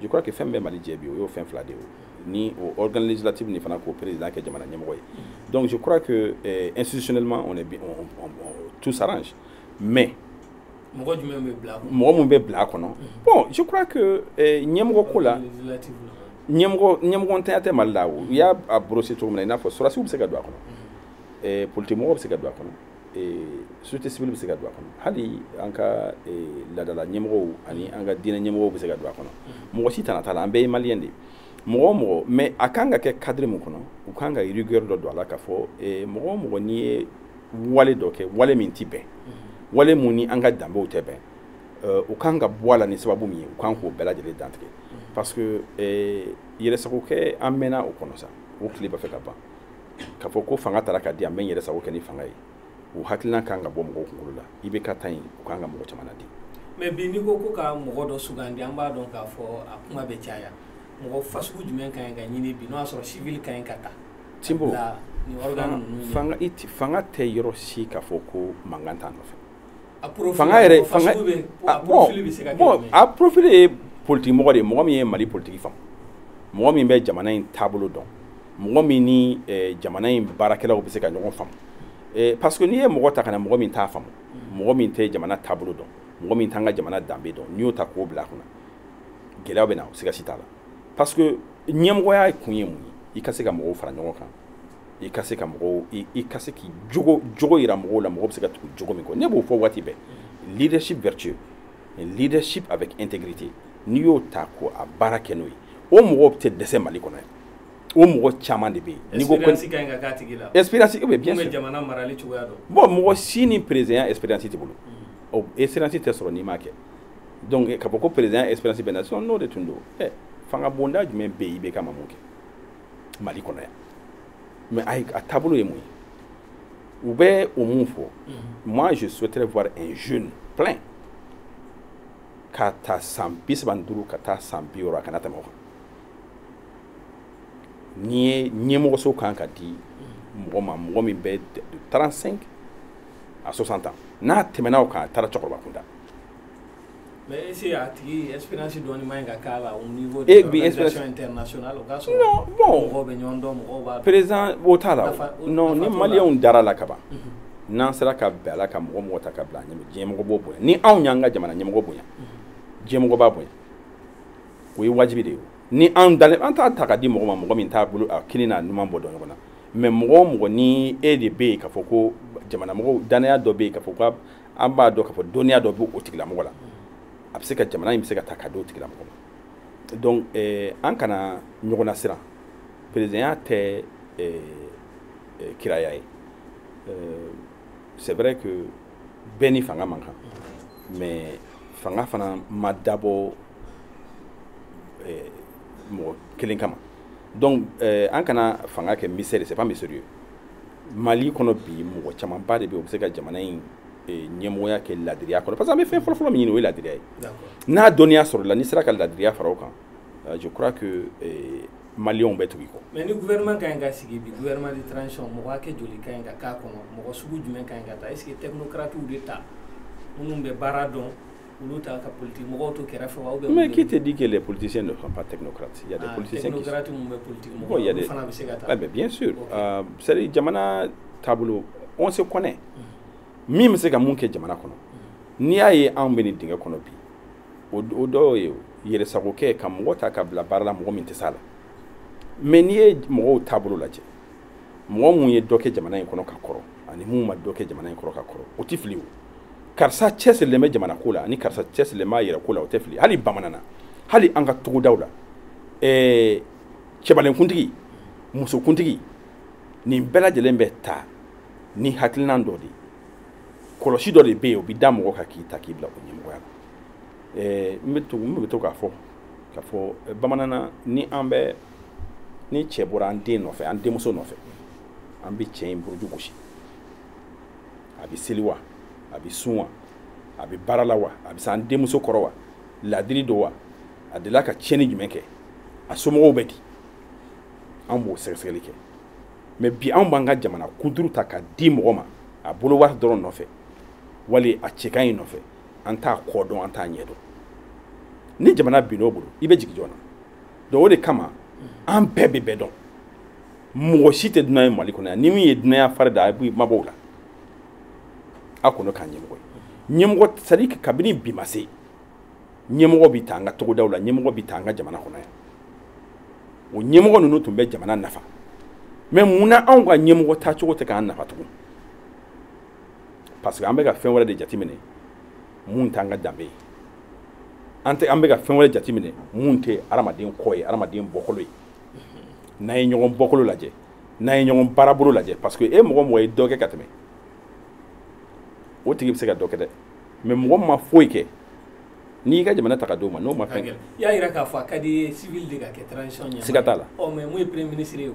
je crois que fɛn bɛ mali jɛ bi o y'o fɛn fila de ye ni o organe législatif ni fana k'o président kɛ jamana ɲɛmɔgɔ ye donc je crois que euh, institutionnellement on est bien, on, on, on, tout s'arrange mais mɔgɔ jumɛn bɛ bila mɔgɔ mun bɛ bila a kɔnɔ bon je crois que euh, ɲɛmɔgɔ ko la ɲɛmɔgɔ ɲɛmɔgɔ ntanya tɛ mali la o i y'a brosser cogo min na i n'a fɔ sɔrɔsiw bɛ se ka don a kɔnɔ euh, politique mɔgɔw bɛ se ka don a kɔnɔ société civile bɛ se ka don a kɔnɔ hali an ka laadala ɲɛmɔgɔw ani an ka diinɛ ɲɛmɔgɔw bɛ se ka don a kɔnɔ mɔgɔ si tana t'a la an bɛɛ ye maliyɛn de mɔgɔ o mɔgɔ mais a kan ka kɛ cadre min kɔnɔ u kan ka rigueur dɔ don a la k'a fɔ mɔgɔ o mɔgɔ n'i ye wale dɔ kɛ wale min tɛ bɛn wale mun ni an ka danbew tɛ bɛn o kan ka bɔ a la ni sababu min ye u kan k'o bɛɛ lajɛlen dantigɛ parce que yɛrɛsagokɛ an mɛnna o kɔnɔ sa o tile b'a fɛ ka ban k'a fɔ ko fanga taara ka di an b'an yɛrɛ sago kɛ ni fanga ye o hakilina kan ka bɔ mɔgɔw kunkolo la i bɛ ka taa yen u kan ka mɔgɔ caman di mais bi n'i ko ko ka mɔgɔ dɔ sugandi an b'a dɔn k'a fɔ a kuma bɛ caya mɔgɔ fasugu jumɛn ka ɲi ka ɲini bi n'o y'a sɔrɔ civil ka ɲi ka ta tinbo fanga tɛ yɔrɔ si k'a fɔ ko mankan t'a nɔfɛ fanga yɛrɛ a profil ye politigimɔgɔ de ye mɔgɔ min ye mali politigi faamu mɔgɔ min bɛ jamana in taabolo dɔn mɔgɔ min ni jamana in baarakɛlaw bɛ se ka ɲɔgɔn faamu parce que n'i ye mɔgɔ ta ka na mɔgɔ min t'a faamu mɔgɔ min tɛ jamana taabolo dɔn mɔgɔ min t'an ka jamana danbe dɔn n'i y'o ta k'o bila a kunna gɛlɛya bɛ na o siga si t'a la parce que ɲɛmɔgɔya kun ye mun ye i ka se ka mɔgɔw fara ɲɔgɔn kan i ka se ka mɔgɔw i ka se k'i jogo yira mɔgɔw la mɔgɔ bɛ se ka tugu jogo min kɔ ne b'o fɔ waati bɛɛ leadership vertueux leadership avec intégrité n'i y'o ta ko a baara kɛ n'o ye o mɔgɔw tɛ dɛsɛ mali kɔnɔ yan o mɔgɔ caman de bɛ yen n'i ko ko expérience ka ɲi ka k'a tigi la expérience eh bien sûr jamana marali cogoya dɔn bon mɔgɔ si ni présidentya expérience tɛ wolo mm. o expérience tɛ sɔrɔ n'i m'a kɛ donc eh, k'a fɔ ko présidentya expérience bɛ na sinon n'o de tun don ɛ eh, fanga bonda jumɛn bɛ yen i bɛ ka ma mun kɛ mali kɔnɔ yan mais a taabolo ye mun ye u bɛ o mun fɔ moi je souhaiterais voir un jeune plein ka ta san bi saba ni duuru ka taa san bi wɔɔrɔ a kana tɛmɛ o kan n'i ye ɲɛmɔgɔso kan ka di mɔgɔ ma mɔgɔ min bɛ de 35 à 60 ans n'a tɛmɛna o kan a taara cɛkɔrɔba kunda Mais est-ce que a tigi expérience dɔɔni man ɲi ka k'a la au niveau de l'organisation internationale o ka sɔrɔ non bon mɔgɔw bɛ ɲɔgɔn dɔn mɔgɔw b'a président o t'a la o non ni maliyɛnw dara la kaban n'an sera ka bɛn a la ka mɔgɔ mɔgɔ ta ka bila an ɲɛ diɲɛmɔgɔ b'o bonya ni anw y'an ka jamana ɲɛmɔgɔ bonya diɲɛmɔgɔ b'a bonya o ye wajibi de ye ni anw dalen an t'a ta ka di mɔgɔ ma mɔgɔ min t'a bolo a kini n'a numan bɔ dɔn ɲɔgɔn na mais mɔgɔ o mɔgɔ ni e de bɛ yen k'a fɔ ko jamanamɔgɔw danaya dɔ bɛ yen k'a fɔ ko an b'a dɔn k'a fɔ dɔnniya dɔ b'o tigilamɔgɔ la a bɛ se ka jamana in bɛ se ka ta ka di o tigilamɔgɔ ma donc eh, an kana ɲɔgɔn lasiran perezidanya tɛ eh, eh, kiraya ye eh, c'est vrai que bɛɛ ni fanga man kan mais fanga fana ma dabɔ eh, mɔgɔ kelen kama donc eh, an kana fanga kɛ mystère c'est pas mystérieux mali kɔnɔ bi mɔgɔ camanba de bɛ o bɛ se ka jamana in eh, ɲɛmɔgɔya kɛ ladiriya kɔnɔ parce que an bɛ fɛn fɔlɔfɔlɔ min ɲini o ye ladiriya ye n'a dɔnniya sɔrɔla n'i sera ka ladiriya fara o kan euh, je crois que eh, maliyɛnw bɛ tugu i kɔ. mais ni gouvernement ka ɲi ka sigi bi gouvernement de transition mɔgɔ hakɛ joli ka ɲi ka k'a kɔnɔ mɔgɔ sugu jumɛn ka ɲi ka ta est ce que technocratiw de ta minnu bɛ baara dɔn. olu ta ka politique mɔgɔw to kɛrɛfɛ wa ou bien mais qui te dit que les politiciens ne sont pas technocrates il y a des ah, politiciens qui sont mun bɛ politique mɔgɔw il y a des fana bɛ se ka ta ah mais bien sûr okay. euh, c'est à dire jamana taabolo on se connaît mm. min bɛ se ka mun kɛ jamana kɔnɔ mm. n'i y'a ye anw bɛ nin dingɛ kɔnɔ bi o dɔ ye yɛrɛsagokɛ ka mɔgɔ ta ka bila baara la mɔgɔ min tɛ s'a la mais n'i ye mɔgɔw taabolo lajɛ mɔgɔ min ye dɔ kɛ jamana in kɔnɔ ka kɔrɔ ani min ma dɔ kɛ jamana in kɔnɔ ka kɔrɔ o tɛ fili o karisa cɛsirilen bɛ jamana ko la ani karisa cɛsirilen b'a yɛrɛ ko la o tɛ fili hali bamananna hali an ka togodaw la ɛɛ cɛbalenkuntigi musokuntigi nin bɛɛ lajɛlen bɛ ta ni hakilinan dɔ de ye kɔlɔsi dɔ de bɛ yen o bɛ da mɔgɔ kan k'i ta k'i bila o ɲɛmɔgɔya la ɛɛ n bɛ to n bɛ to k'a fɔ k'a fɔ bamananna ni an bɛ ni cɛ bɔra an den nɔfɛ an denmuso nɔfɛ an bɛ cɛ in buruju gosi a bɛ seli wa a bɛ sun wa a bɛ baara la wa a bɛ se an denmuso kɔrɔ wa laadiri don wa a delila ka tiɲɛni jumɛn kɛ a somɔgɔw bɛ di an b'o sɛgɛsɛgɛli kɛ mais bi anw b'an ka jamana kuturu ta ka di mɔgɔ ma a bolo wari dɔrɔn nɔfɛ wali a cɛ ka ɲi nɔfɛ an t'a kɔ dɔn an t'a ɲɛ dɔn ni jamana bin'o bolo i bɛ jigin jɔn na donc o de kama an bɛɛ bɛ bɛɛ dɔn mɔgɔ si tɛ dunan ye mali kɔnɔ yan ni min ye dunanya fari da a b'i mabɔ o la a kɔnɔ k'a ɲɛmɔgɔ ye ɲɛmɔgɔ c'est-à-dire kabini bi ma se ɲɛmɔgɔ bɛ ta an ka togodaw la ɲɛmɔgɔ bɛ ta an ka jamana kɔnɔ yan o ɲɛmɔgɔ ninnu tun bɛ jamana nafa mais mun na anw ka ɲɛmɔgɔ tacogo tɛ k'an nafa tugun parce que an bɛ ka fɛn wɛrɛ de jateminɛ mun t'an ka danbe ye an tɛ an bɛ ka fɛn wɛrɛ jateminɛ mun tɛ adamaden kɔ ye adamaden bɔkolo ye n'a ye ɲɔgɔn bɔkolo lajɛ n'a ye ɲɔgɔn baarabolo lajɛ parce que e mɔgɔ o mɔgɔ ye dɔ kɛ ka tɛmɛ o tigi bɛ se ka dɔ kɛ dɛ mais mɔgɔ min ma foyi kɛ n'i y'i ka jamana ta ka d'o ma n'o ma fɛn kɛ i y'a jira k'a fɔ a ka d'i ye civil de ka kɛ transition ɲɛmaa siga t'a la ɔ mais mun ye premier ministre ye o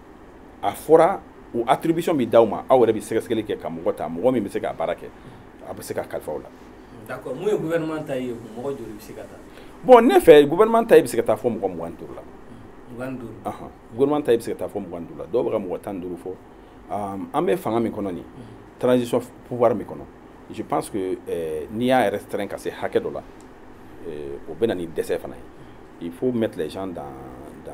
a fɔra o attribution bɛ d'aw ma aw yɛrɛ bɛ sɛgɛsɛgɛli kɛ ka mɔgɔ ta mɔgɔ min bɛ se k'a baara kɛ a bɛ se ka kalifa o la. d'accord mun ye gouvernement ta ye mɔgɔ joli bɛ se ka ta. bon ne fɛ gouvernement taille bɛ se ka taa fɔ mɔgɔ mugan ni duuru la. mugan ni duuru. ɔhɔn gouvernement taille bɛ se ka taa fɔ mugan ni duuru la dɔw bɛ ka mɔgɔ tan ni duuru fɔ an bɛ fanga min kɔnɔ nin transition pouvoir min kɔnɔ je pense que eh, n'i y'a restreint ka se hakɛ dɔ la eh, o bɛ na ni dɛsɛ fana ye il faut mettre les gens dans dans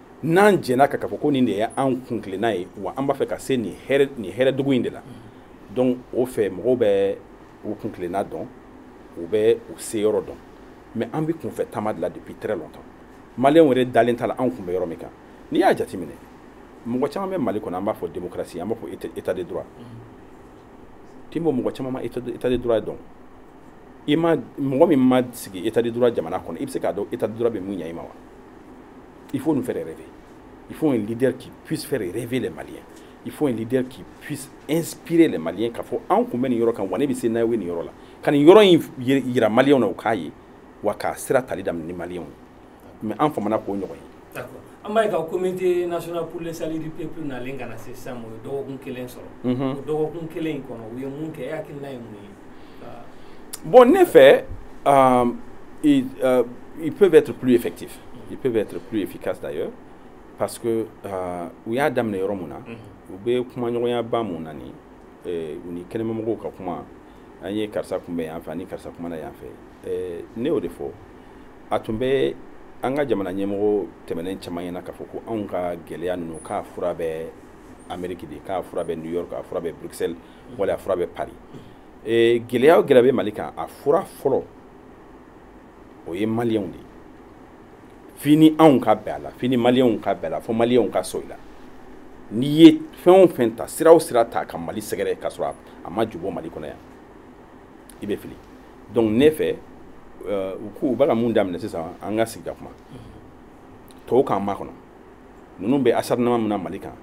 n'an jɛnna ka k'a fɔ ko nin de ye an kuntilenna ye wa an b'a fɛ ka se nin hɛrɛ nin hɛrɛdugu in de la donc o fɛ mɔgɔw bɛ u kuntilenna dɔn u bɛ u se yɔrɔ dɔn mais an bɛ kunfɛ taama de la depuis très longtemps maliyɛnw yɛrɛ dalen t'a la anw kun bɛ yɔrɔ min kan n'i y'a jateminɛ mɔgɔ caman bɛ mali kɔnɔ an b'a fɔ démocratie an b'a fɔ état de droit timo mɔgɔ caman ma état de droit dɔn i ma mɔgɔ min ma sigi état de droit jamana kɔnɔ i bɛ se k'a dɔn état de droit bɛ mun ɲɛ i ma wa Il faut nous faire rêver. Il faut un leader qui puisse faire rêver les Maliens. Il faut un leader qui puisse inspirer les Maliens k'a fɔ anw kun bɛ nin yɔrɔ kan wa ne bɛ se n'aw ye nin yɔrɔ la ka nin yɔrɔ in yira Maliens na u k'a ye wa k'a sira tali daminɛ ni Maliens ye mais an famana k'o ɲɔgɔn ye. an b'a ye ka comité national pour le salut du peuple nalen ka na se sisan o ye dɔgɔkun kelen sɔrɔ o dɔgɔkun kelen in kɔnɔ u ye mun kɛ e hakilina ye mun ye. Bon, ne fɛ, euh, ils, euh, ils, peuvent être plus effectifs. Ils peuvent être plus efficaces d'ailleurs. Parce que euh, u y'a daminɛ yɔrɔ mun na u bɛ kumaɲɔgɔnyaba mun na ni u ni kɛnɛmamɔgɔw ka kuma an ye karisa kunbɛn yan fɛ ani karisa kumana yan fɛ ne y'o de fɔ a tun bɛ an ka jamana ɲɛmɔgɔ tɛmɛnen caman ɲɛna k'a fɔ ko anw ka gɛlɛya ninnu k'a fura bɛ ameriki de k'a fura bɛ new york k'a fura bɛ bruxelles wala a fura bɛ paris ee gɛlɛya o gɛlɛya bɛ mali kan a fura fɔlɔ o ye maliyɛnw de ye fini anw ka bɛn a la fini maliyɛnw ka bɛn a la fo maliyɛnw ka sɔn i la n'i ye fɛn o fɛn ta sira o sira ta ka mali sɛgɛrɛ ka sɔrɔ a ma jubɔ mali kɔnɔ yan i bɛ fili donc ne fɛ euh, u k'u bɛ ka mun daminɛ sisan an ka sigi ka kuma tɔw k'an makɔnɔ ninnu bɛ acharnement min na mali kan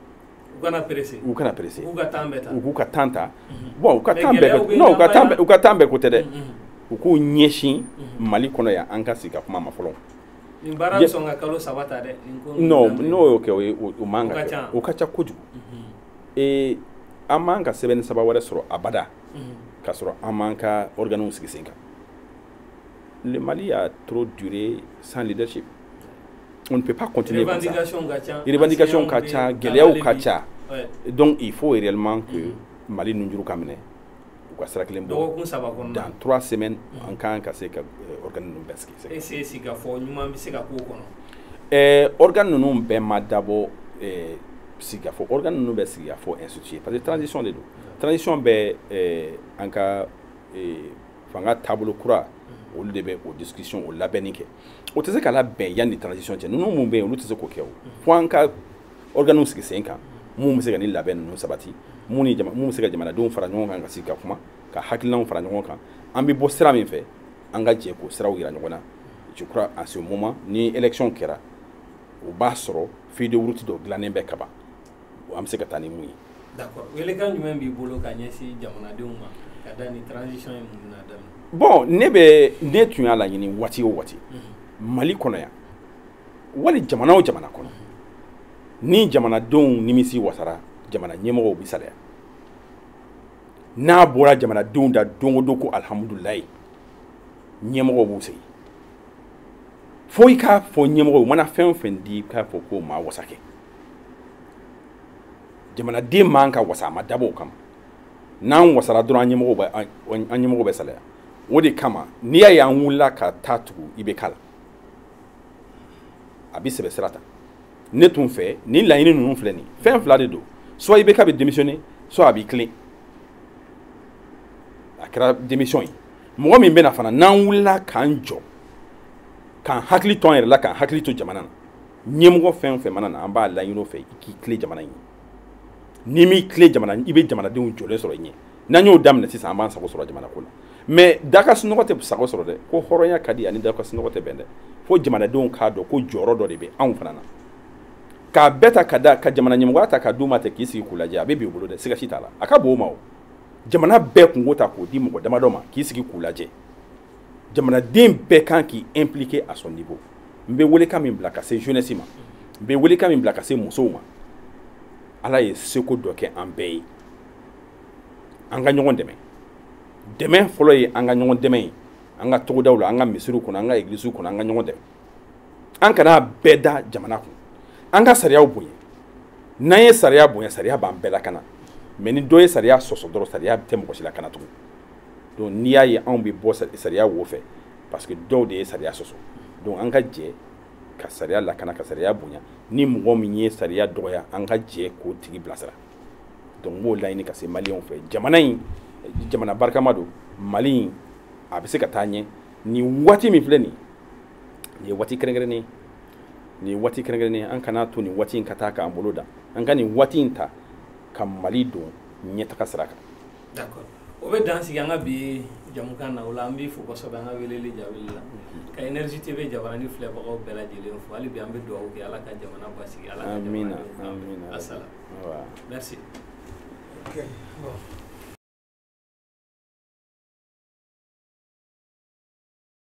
u kana pressé u kana pressé u ka temps bɛɛ ta u k'u ka temps ta mhm. bon u ka temps bɛɛ non u ka temps u ka temps bɛɛ ko tɛ dɛ mhm. u k'u ɲɛsin mhm. mali kɔnɔ yan an ka sigi ka kuma ma fɔlɔ nin baara bɛ sɔn ka kalo saba ta dɛ non n'o y'o kɛ o ye o man ka kɛ o ka ca kojugu ee an man ka semaine saba wɛrɛ sɔrɔ abada ka sɔrɔ an m'an ka organew sigi sen kan le mali a trop duré sans leadership on ne peut pas continuer comme ça. Les revendications ka ca, gɛlɛyaw ka ca. Donc il faut réellement que mm-hmm. Mali nunjuru ka minɛ u ka sira kelen bɔ. Dans trois semaines mm-hmm. an kan ka se ka euh, organe ninnu bɛɛ sigi. Est-ce que sigikafɔ ɲuman bɛ se ka k'o kɔnɔ? Ɛɛ organe ninnu bɛɛ ma dabɔ ɛɛ sigikafɔ organe ninnu bɛ sigikafɔ instituer parce que transition de don. Transition bɛ ɛɛ an ka ɛɛ fanga taabolo kura mm-hmm. olu de bɛ o discussion o labɛnni kɛ. o tɛ se ka labɛn yanni transition cɛ ninnu mun bɛ yen olu tɛ se k'o kɛ o fo an ka organew sigi sen kan mun bɛ se ka ni labɛn ninnu sabati mun ni jama mun bɛ se ka jamanadenw fara ɲɔgɔn kan ka sigi ka kuma ka hakilinaw fara ɲɔgɔn kan an bɛ bɔ sira min fɛ an ka jɛ k'o siraw yira ɲɔgɔn na je crois en ce moment ni élection kɛra o b'a sɔrɔ feuille de route dɔ dilannen bɛ kaban wa an bɛ se ka taa ni mun ye. d'accord welekan jumɛn b'i bolo ka ɲɛsin jamanadenw ma ka da ni transition ye mun na daminɛ. bon ne bɛ ne tun y'a laɲini waati o waati mali kɔnɔ yan wali jamana o jamana kɔnɔ ni jamanadenw nimisiwasara jamana ɲɛmɔgɔw bɛ salaya n'a bɔra jamanadenw da don o don ko alihamudulilayi ɲɛmɔgɔw b'u sigi fo i k'a fɔ ɲɛmɔgɔw mana fɛn o fɛn di i k'a fɔ k'o ma wasa kɛ jamanaden man ka wasa a ma dabɔ o kama n'an wasara dɔrɔn an ɲɛmɔgɔw bɛ salaya o de kama n'i y'a ye an wulila ka taa tugu i bɛ k'a la a bɛ sɛbɛ sira ta ne tun fɛ nin laɲini ninnu filɛ nin fɛn fila de don soit i bɛ k'a bɛ démissionner soit a b'i tilen a kɛra démission ye mɔgɔ min bɛna fana n'an wulila k'an jɔ k'an hakili to an yɛrɛ la k'an hakili to jamana na ɲɛmɔgɔ fɛn o fɛn mana na an b'a laɲini o fɛ i k'i tilen jamana in ye n'i m'i tilen jamana i bɛ jamanadenw jɔlen sɔrɔ i ɲɛ n'an y'o daminɛ sisan an b'an sago sɔrɔ jamana ko la mais da ka sunɔgɔ tɛ sago sɔrɔ dɛ ko hɔrɔnya ka di ani da ka sunɔgɔ tɛ bɛn dɛ fo jamanadenw k'a dɔn ko jɔyɔrɔ dɔ de bɛ anw fana na k'a bɛɛ ta ka da ka jamana ɲɛmɔgɔya ta ka d'u ma ten k'i sigi k'u lajɛ a bɛ b'i bolo dɛ siga si t'a la a ka bon o ma o jamana bɛɛ kunko ta k'o di mɔgɔ damadɔ ma k'i sigi k'u lajɛ jamanaden bɛɛ kan k'i impliquer à son niveau n bɛ welekan min bila ka se jeunesse ma n bɛ welekan min bila ka se musow ma ala ye seko dɔ kɛ an bɛɛ ye an ka ɲɔgɔn dɛmɛ dɛmɛ fɔlɔ ye an ka ɲɔgɔn dɛmɛ ye an ka togodaw la an ka misiriw kɔnɔ an ka egilisiw kɔnɔ an ka ɲɔgɔn dɛmɛ an kana bɛɛ da jamana kun an ka sariyaw bonya n'an ye sariya bonya sariya b'an bɛɛ lakana mais ni dɔ ye sariya sɔsɔ dɔrɔn sariya tɛ mɔgɔ si lakana tugun donc n'i y'a ye anw bɛ bɔ sariya wo fɛ parce que dɔw de ye sariya sɔsɔ donc an ka jɛ ka sariya lakana ka sariya bonya ni mɔgɔ min ye sariya dɔgɔya an ka jɛ k'o tigi bilasira donc n b'o laɲini ka se maliyɛnw fɛ jamana in jamana barikama don mali in a bɛ se ka taa ɲɛ nin waati min filɛ nin nin ye waati kɛrɛnkɛrɛnnen ye nin ye waati kɛrɛnkɛrɛnnen ye an kana to nin waati in ka taa k'an bolo dan an ka nin waati in ta ka mali don ɲɛtaga sira kan o bɛ dan sigi an ka bi jamukan na o la an b'i fo kosɛbɛ an ka weleli jaabili la ka Énergie TV jabaranin filɛbagaw bɛɛ lajɛlen fo hali bi an bɛ dugawu kɛ Ala ka jamana basigi Ala ka jamana Amina, denw k'an bɛɛ amina. asala Voilà. merci Okay. Bon.